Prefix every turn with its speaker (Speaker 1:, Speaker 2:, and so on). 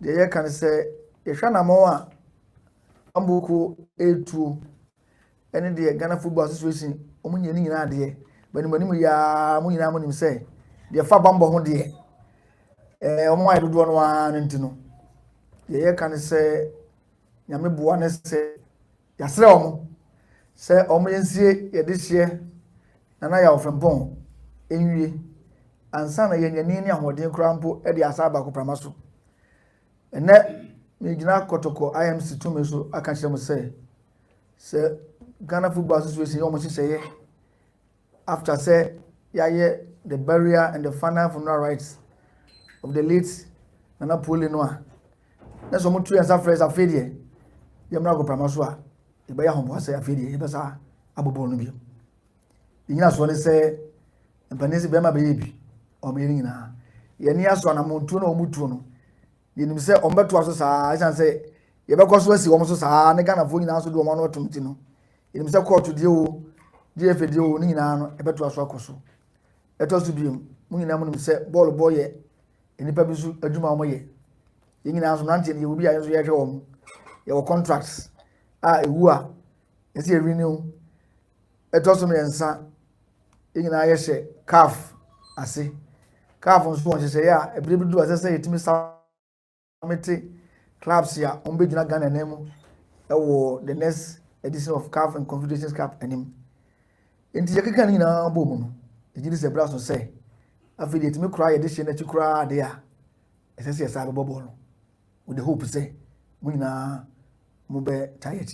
Speaker 1: deɛ yɛka ne sɛ yɛhwɛ anamɔn a Ambuku retuo ne deɛ Ghana Football Association wɔn nyɛ ne nyinaa deɛ banimanim yɛa mo nyinaa mo nim sɛ deɛ fa bambɔ ho deɛ ɛɛ wɔn ayɛ dodoɔ no ara no nti no deɛ yɛka ne sɛ nyame boa ne sɛ Yɛasrɛ wɔn sɛ wɔnsie yɛn dehyeɛ Nana Yaw Frimpong nwie ansa na yɛanya ani ne ahoɔden koraa mpo de asa aba agoprama so. Ɛnnɛ, megyina Kɔtɔkɔ IMC tumi so aka kyerɛ mo sɛ, sɛ Ghana Football Association yɛ wɔn nhyehyɛeɛ After sɛ yayɛ the burial and the final funeral rites of the late Nana Puole no a, na sɛ wɔtu yɛn nsa frɛ sɛ afei deɛ yɛmmra agoprama so a, yɛbɛyɛ ahoboa sɛ afei deɛ yɛbɛsa abobɔ no bio. Ne nyinasoɔ ne sɛ mpanin sɛ bɛrima bɛyɛ bi wɔn yɛ no nyinaa. Yɛn ani aso anamontuo na wɔn tuo no, yɛnim sɛ wɔn bɛtoa so saa ɛsiane sɛ yɛbɛkɔ so asi wɔn so saa ne Ghanafoɔ nyinaa so de wɔn ano atom ti no, yɛnim sɛ kɔɔto deɛ o gfa deɛ o ne nyinaa no ɛbɛtoa so akɔ so ɛtɔ so biom mo nyinaa mu nim sɛ bɔɔl bɔ yɛ nnipa bi so adwuma a wɔyɛ yɛn nyinaa nso mmeranteɛ no yɛwɔ bi a yɛn nso yɛhwɛ wɔn yɛwɔ contracts a ɛwu a yɛsɛ yɛ renew ɛtɔ so mmiɛnsa yɛn nyinaa yɛhyɛ caf ase caf nso wɔn nhyehyɛeɛ a ɛberɛ bi du a ɛsɛ sɛ yɛtumi sa mete clubs a wɔbɛgyina Ghana nan mu wɔ the next edition of CAF and Confederations Cup anim nti yɛkeka no nyinaa bɔ mu no ɛgye di sɛ berɛ so sɛ afei deɛ ɛtumi koraa yɛde hyɛ no akyi koraa de a ɛsɛ sɛ yɛsaa bɛbɔ bɔɔl no with the hope sɛ mo nyinaa mobɛtae akyi